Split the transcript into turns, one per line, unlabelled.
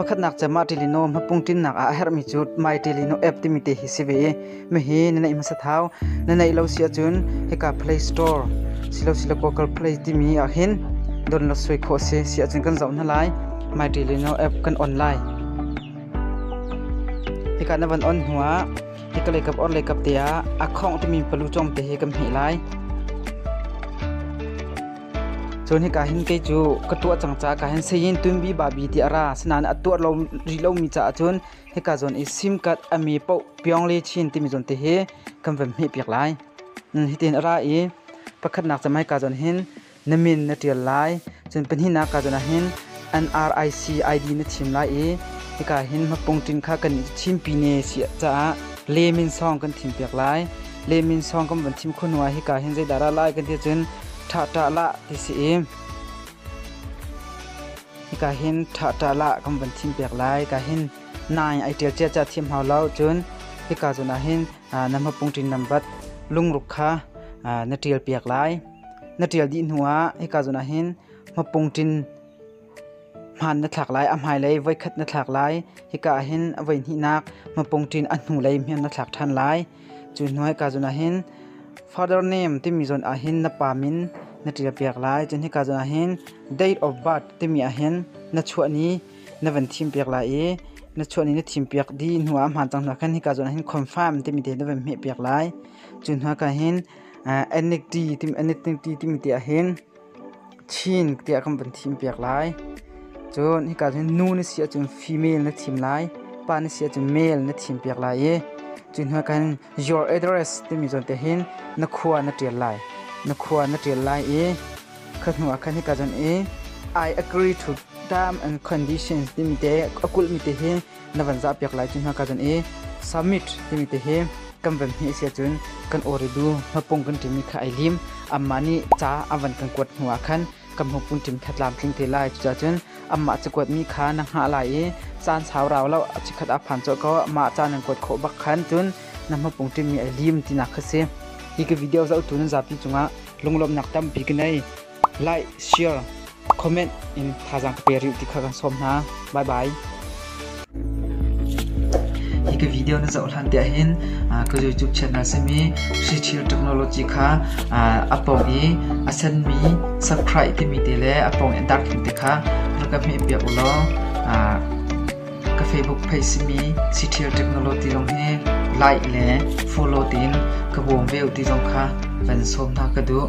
Pakhatnak cu Martilino hmapung ṭinnak ah a herhmi cu Martilino app timi te hi si ve i mahi na neih hmasa thau. Na neih lo si ahcun hika Play Store silosile Google Play timi ah hin download suai khawh a si si ahcun kan zoh hna lai. Martilino app kan on lai. Hika na van on hnuah hika leikap or leikap te ah a khawng timi palu cong te hi kan hmeh lai. Cun hika hin kei cu ka tuah cang ca ka hin Sayin Tunbi Babi ti a ra. Asinain a tuah lo rih lomi caah cun hika zawn i simkat a mi paoh Pyongle Chin timi zawn te hi kan van hmeh piak lai. Hitin a ra i pakhatnak cem hika zawn hin na min na ṭial lai. Cun pahnihnak ka zawn ah hin NRIC ID na thim lai i hika hin mapung ṭin kha kan i thimpi ne si caah le min song kan thim piak lai. Le min song kan van thim khun hnuah hika hin zeidah ra lai kan ti cun ṭha ṭa la ti si i hika hin ṭha ṭa la kan van thim piak lai. Hika hin nai ai ṭial cia ca thiam hau lo cun hika zun ah hin na mapung ṭin nambat lungruk kha na ṭial piak lai. Na ṭial dih hnuah hika zun ah hin Mapungṭin hmaan na thlak lai, a hmailei voikhat na thlak lai. Hika ah hin a voihnihnak mapungṭin a hnulei hmanh na thlak ṭhan lai. Cu hnuah hika zawn ah hin Father Name timi zawn ah hin na pa min na ṭialpiak lai. Cun hika zawn ah hin Date of Birth timi ah hin na chuah ni na van thimpiak lai i na chuah ni na thimpiak dih hnuah a hmaan cang hnuah khan hika zawn ah hin Confirm timi te na van hmehpiak lai. Cu hnuah khan hin Annickty timi, Annickty timi te ah hin Chin tiah kan van thimpiak lai. Cun hika cun nu na si ahcun female na thim lai, pa na si ahcun male na thimpiak lai i cu hnu ah khan your address timi zawn te hin na khua na ṭial lai. Na khua na ṭial lai i kha hnu ah khan hika cun i I agree to term and conditions timi te a kulhmi te hi na van zah piak lai ti hna ka zan i summit timi te hi kan van hni sia cun kan oridu mapung kan timi kha ai lim amma nih ca an van kan kuat hnu ah khan kan mupun tim that lam tling te lai cuca cun amma ci kuat mi kha na ngah lai i caan sau rau lo chikhat a phan cho ko ma caan nan kuat khawh bak khan cun na mapung tim mi ai lim tina kha si hi ka video zoh tu nan zapi cungah lunglawmnak tampi ka nei Like, share, comment in thazaang ka pe rih ti kha kan sawm hna. Bye bye. Hi ka video na zoh hlan te ahhin ka YouTube channel simi Sri Chill Technology kha a pawng i a senmi subscribe timi te le a pawng i dark te kha rakam hi piak ulaw ka Facebook page simi Sri Chill Technology zong hi like le follow tiin ka bawm ve ti zong kha van sawm hna ka duh.